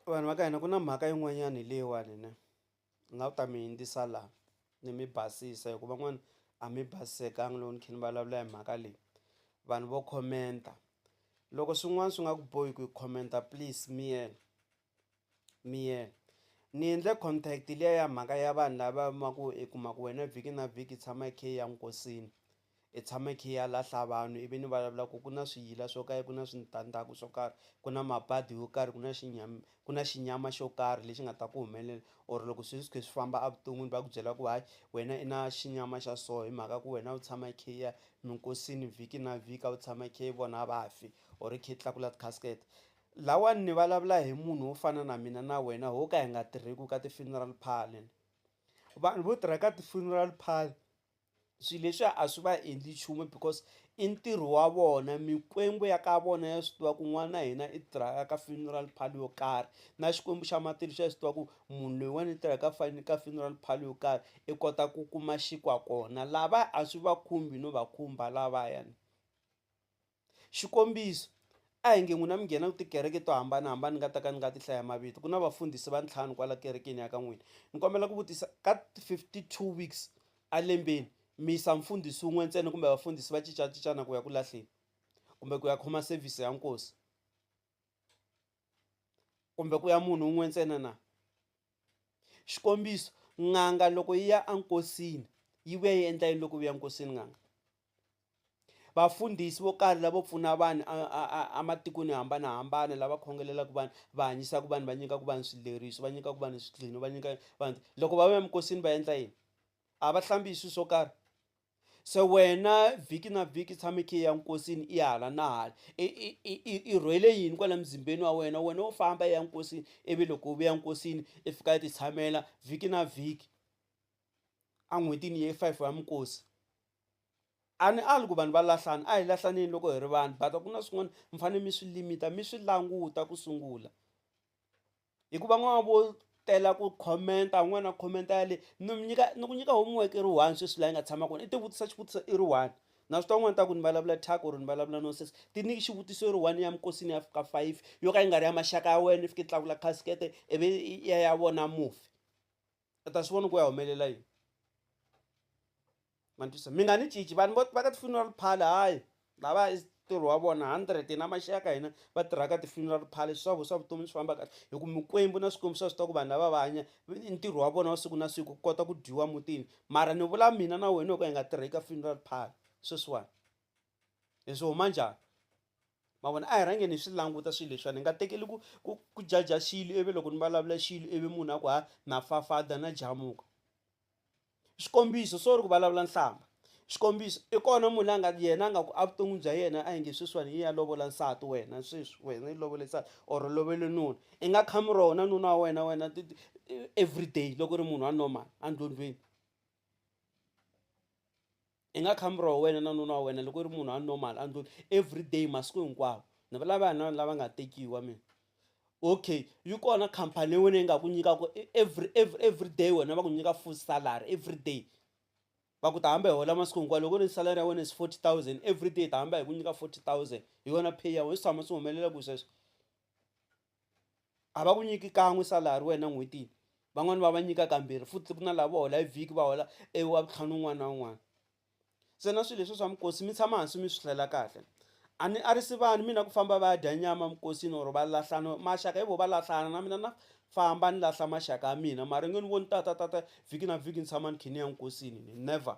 Vanhu va ka hina ku na mhaka yin'wanyana leyiwani ne ni nga ku ta mi yingisela la ni mi basisa hi ku van'wana a mi basisekanga loko ni kha ni vulavula hi mhaka leyi vanhu vo khomenta loko swin'wana swi nga ku bohi ku khomenta please miyela miyela ni endle contact liya ya mhaka ya vanhu lava ma ku i kuma ku wena vhiki na vhiki tshama i khe i ya nkosini. I tshama i khe i ya lahla vanhu ivi ni vulavula ku ku na swiyila swo karhi ku na switandzhaku swo karhi ku na mabadi yo karhi ku na xinyama ku na xinyama xo karhi lexi nga ta ku humelela or loko sweswi swi kha swi famba evuton'wini va ku byela ku hayi wena i na xinyama xa so hi mhaka ku wena u tshama i khe i ya minkosini vhiki na vhiki a wu tshama i khe i vona vafi or i khe i tlakula ti-casket lawani ni vulavula hi munhu wo fana na mina na wena ho ka hi nga tirheki ka ti-funeral parlour vanhu vo tirha ka ti-funeral parlour. swilo leswiya a swi va endli nchumu because i ntirho wa vona mikwembu ya ka vona ya swi tiva ku n'wana na hina i tirhaka ka funeral parlour yo karhi na xikwembu xa matilo xa swi tiva ku munhu loyiwani i tirhaka fane ka funeral parlour yo karhi i kota ku kuma xinkwa kona lava a swi va khumbi no va khumba lavayani. Xikombiso, a hi nge n'wina mi nghena tikereke to hambana-hambana ni nga ta ka ni nga ti hlaya mavito, ku na vafundhisi va ntlhanu kwala kerekeni ya ka n'wina. Ni kombela ku vutisa, ka 52 weeks a lembeni, mi yisa mfundhisi wun'we ntsena kumbe vafundhisi va cinca-cincana ku ya ku lahleni? Kumbe ku ya khoma sevhisi ya nkosi? Kumbe ku ya munhu wun'we ntsena na? Xikombiso, n'anga loko yi ya enkosini, yi vuya yi endla yini loko yi vuya enkosini n'anga? Vafundhisi vo karhi lavo pfuna vanhu ematikweni yo hambanahambana lava khongelelaku vanhu va hanyisaku vanhu va nyikaku vanhu swileriso va nyikaku vanhu swidlino va nyika vanhu loko va va emikosini va endla yini a va hlambi hi swilo swo karhi se wena vhiki na vhiki tshame khe ya nkosini i hala na hala i rhwele yini kwala muzimbeni wa wena wena wo famba ya nkosini ivi loko u vuya nkosini i fika i ti tshamela vhiki na vhiki en'hwetini ye five ya minkosi. A ni ali ku vanhu va lahlana a hi lahlaneni loko hi ri vanhu but ku na swin'wana mi fanele mi swi limit-a mi swi languta ku sungula hikuva n'wana vo tela ku comment-a un'wana a comment ya le ni mi nyika ni ku nyika homework i ri one sweswi laha yi nga tshama kona i ti vutisa xivutiso i ri one na swi tiva n'wana ta ku ni vulavula thyaka or ni vulavula nonsense ti nyiki xivutiso i ri one ya minkosini ya fika five yo ka yi nga ri ya maxaka ya wena i fika i tlakula khasikhete ivi i ya ya vona mufi. i ta swi vona ku ya humelela yini ma ntwisa mi nga ni cici vanhu vo va ka ti-funeral parlour hayi lava i ntirho wa vona hundred na maxaka ka hina va tirhaka ti-funeral parlour swa swa vutomi swi famba kahle hi ku mikwembu na swikwembu swa swi tiva ku vanhu lava va hanya i ntirho wa vona wa siku na siku ku kota ku dyiwa mutini mara ni vula mina na wena hi ku hi nga tirhi ka funeral parlour sweswiwani hi swi huma njhani. Ma vona? A hi rhange ni swi languta swilo leswiwani, hi nga tekeli ku ku ku judge-a xilo ivi loko ni vulavula xilo ivi munhu a ku ha na fafada na jamuka. Xikombiso sorry ku vulavula nhlamba, xikombiso i kona munhu la nga yena a nga ku evuton'wini bya yena a hi nge sweswiwani i ya lovola nsati wena sweswi wena i lovole nsati or u lovele nuna i nga khami roho na nuna wa wena wena everyday loko u ri munhu wa normal endlondlweni. I nga khambi ro wena na nuna wa wena loko i ri munhu a normal a ndlwini everyday masiku hinkwawo ni vulava hi na lava nga tekiwa mina okay yi kona khampani ya wena yi nga ku nyikaku every every everyday wena va ku nyika full salary everyday va ku ta hamba hi hola masiku hinkwawo loko ri salary ya wena is forty thousand everyday hi ta hamba hi ku nyika forty thousand hi yona pay ya wena swi tshama swi humelela ku sweswo. a va ku nyiki kan'we salary wena n'hwetini van'wani va va nyika kambirhi futhi ku na lava hola hi vhiki va hola e wa vutlhanu un'wana na un'wana se na swilo leswi swa mikosi mi tshama hansi mi swi hlela kahle a ni a ri si vanhu mina ku famba va ya dya nyama mikosini or va lahlana maxaka hi vo va lahlana na mina na famba ni lahla maxaka ya mina mara nge ni voni tata tata vhiki na vhiki ni tshama ni kha ni ya nkosini never.